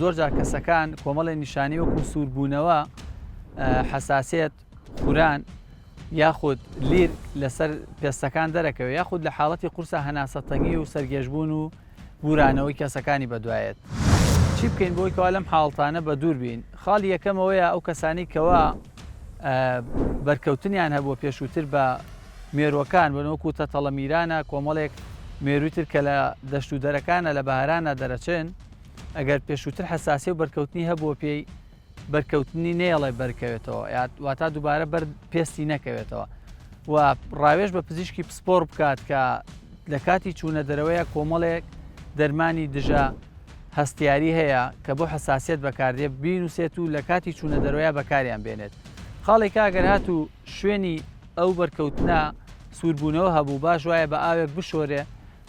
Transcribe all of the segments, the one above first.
زۆرجار کەسەکان کۆمەڵی نیشانی وەکو سووربوونەوە حەساسێت خوران یاخود لیر لەسەر پێستەکان دەرەکەوێت یاخود لە حاڵەتی قورسە هەناسە تەنگی و سەرگێژبوون و بورانەوەی کەسەکانی بەدوایەت چی بکەین بۆی کەوا لەم حاڵتانە بە دوور بین خاڵی یەکەمەوەیە ئەو کەسانی کەوا بەرکەوتنیان هەبووە پێشووتر بە مێروەکان بنەوەکو تەتەڵە میرانە کۆمەڵێک مێروتر کە لە دەشت و دەرەکانە لە بەهرانە دەرەچێن ئەگەر پێشووتر حەساسیە و بەرکەوتنی هەبووە پێی بەرکەوتنی نێڵێ بەرکەوێتەوە واتا دووبارە بەر پێستی نەکەوێتەوە و ڕاوێش بە پزیشکی پسپۆر بکات کە لە کاتی چوونە دەرەوەیە کۆمەڵێک دەرمانی دژە هەستیاری هەیە کە بۆ حساسیت بەکاردێ بینوسێت و لە کاتی چوونە دەرۆیا بەکاریان بێنێت خاڵێک ئەگەر هات و شوێنی ئەو بەرکەوتنە سووربوونەوە هەبوو باش وایە بە ئاوێک بشۆرێ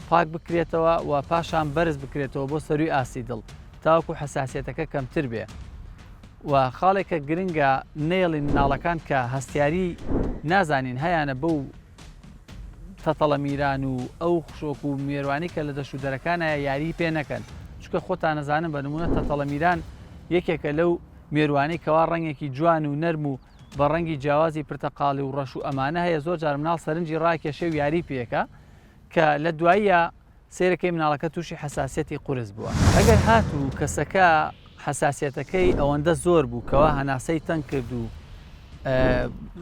پاک بکرێتەوە و پاشان بەرز بکرێتەوە بۆ سەروی ئاستی دڵ تاوەکو حساسیەتەکە کەمتر بێ و خاڵێکە گرنگە نێڵی مناڵەکان کە هەستیاری نازانین هەیانە بەو تەتەڵە میران و ئەو خشۆک و مێوانی کە لە دەشت و دەرەکانایە یاری پێ نەکەن چکە خۆتان نەزانن بە نمونە تەتەڵە میران یەکێکە لەو مێروانەی کەوا ڕەنگێکی جوان و نەرم و بە ڕەنگی جیاوازی پرتەقاڵی و ڕەش و ئەمانە هەیە زۆر جار مناڵ سەرنجی ڕاکێشێ و یاری پێەکە کە لە دواییە سەیرەکەی مناڵەکە تووشی حەساسیەتی قورس بووە. ئەگەر هاتوو کەسەکە حەساسیەتەکەی ئەوەندە زۆر بوو کەوا هەناسەی تەنگ کرد و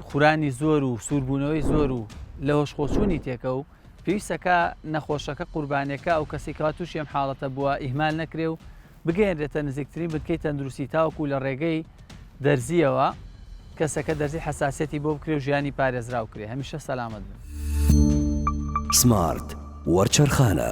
خورانی زۆر و سووربوونەوەی زۆر و لە هۆشخۆچوونی تێکە و پێویستەکە نەخۆشەکە قوربانەکە ئەو کەسیکەوا تووشی ئەم حاڵەتە بووە ئیهمال نەکرێ و بگەیەنرێتە نزیکترین بنکەی تەندروستی تاوەکو لە ڕێگەی دەرزیەوە کەسەکە دەرزی حساسەتی بۆ بکرێ و ژیانی پارێزراو کرێ هەمیشە سەلامەت بن. سمارت وەرچەرخانە.